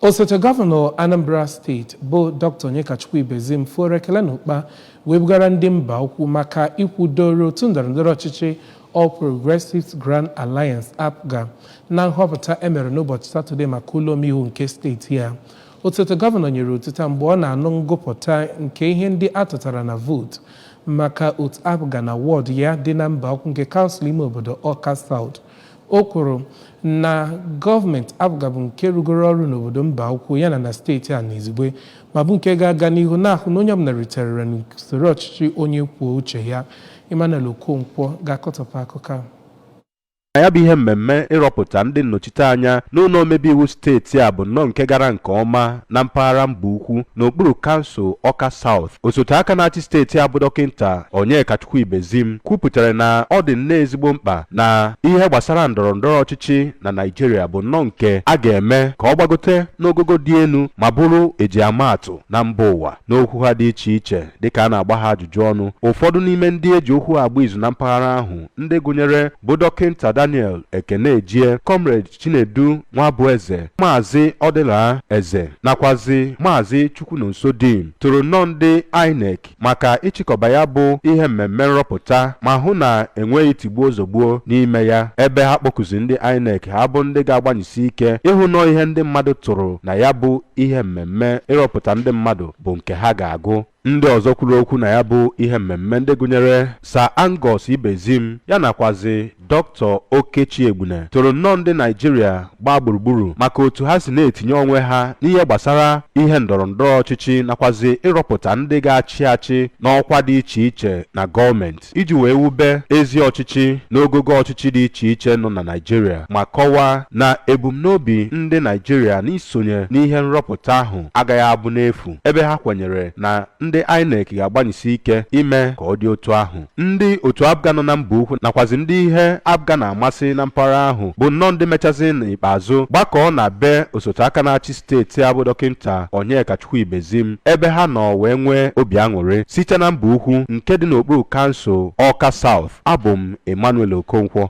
Osote gọvanọ Anambra steeti bụ Dr. Onyekachukwu Ibezim foro ekele n'ụkpa wee bugara ndị Mbaukwu maka ikwudoro otu ndọrọndọrọ ọchịchị All Progressives Grand Alliance APGA na nhọpụta e mere n'ụbọchị Satọde maka ụlọ omeiwu nke steeti ya. Osote gọvanọ nyere otito a mgbe ọ na-anụ ngụpụta nke ihe ndị a tụtara na vootu maka otu APGA na wọdụ ya dị na Mbaukwu nke kansụl ime obodo Awka South O kwuru na gọọmenti APGA bụ nke rụgoro ọrụ n'obodo Mbaukwu yana na steeti a n'izugbe ma bụ nke ga-aga n'ihu na-ahụ na onye ọbụla ritere uru n'usoro ọchịchị onye kwuo uche ya. Emmanuel Okonkwo ga-akọtọpụ akụkọ a. Ya bụ ihe mmemme ịrọpụta ndị nnọchiteanya n'ụlọ omebe iwu steeti a bụ nnọọ nke gara nke ọma na mpaghara Mbaukwu n'okpuru kansụl Awka South. osote aka na-achị steeti a bụ dọkịnta Onyekachukwu Ibezim kwupụtara na ọ dị nnọọ ezigbo mkpa na ihe gbasara ndọrọ ndọrọ ọchịchị na Naịjirịa bụ nnọọ nke a ga-eme ka ọ gbagote n'ogogo dị elu ma bụrụ e ji ama atụ na mba ụwa n'okwu ha dị iche iche dịka a na-agba ha ajụjụ ọnụ ụfọdụ n'ime ndị e ji okwu agba izu na mpaghara ahụ ndị gụnyere bụ dọkịnta Daniel Ekenejie Comrade Chinedu Nwabueze, Maazị Ọdịla Eze nakwazi Maazị Chukwunonso Dim toro nnọọ ndị INEC maka ịchịkọba ya bụ ihe mmemme nrọpụta ma hụ na enweghị tigbuo zogbuo n'ime ya ebe ha kpọkuzi ndị INEC ha bụ ndị ga-agbanyesi ike ịhụ nnọọ ihe ndị mmadụ tụrụ na ya bụ ihe mmemme ịrọpụta ndị mmadụ bụ nke ha ga-agụ Ndị ọzọ kwuru okwu na ya bụ ihe mmemme ndị gụnyere Sir Angus Ibezim ya nakwazi Dr. Okechi Egbune toro nnọọ ndị Naịjirịa gbaa gburugburu maka otu ha si na-etinye onwe ha n'ihe gbasara ihe ndọrọ ndọrọ ọchịchị nakwazi ịrọpụta ndị ga-achị achị n'ọkwa dị iche iche na gọọmenti. iji wee wube ezi ọchịchị n'ogogo ọchịchị dị iche iche nọ na Naịjirịa ma kọwaa na ebumnobi ndị Naịjirịa n'isonye n'ihe nrọpụta ahụ agaghị abụ n'efu ebe ha kwenyere na ndị INEC ga-agbanyesi ike ime ka ọ dị otu ahụ. Ndị otu APGA nọ na Mbaukwu nakwazi ndị ihe APGA na-amasị na mpaghara ahụ bụ nnọọ ndị mechazi n'ikpeazụ gbakọọ na be osote aka na-achị steeti a bụ dọkịnta Onyekachukwu Ibezim ebe ha nọ wee nwee obi aṅụrị site na Mbaukwu nke dị n'okpuru kansụl Awka South abụ m Emmanuel Okonkwo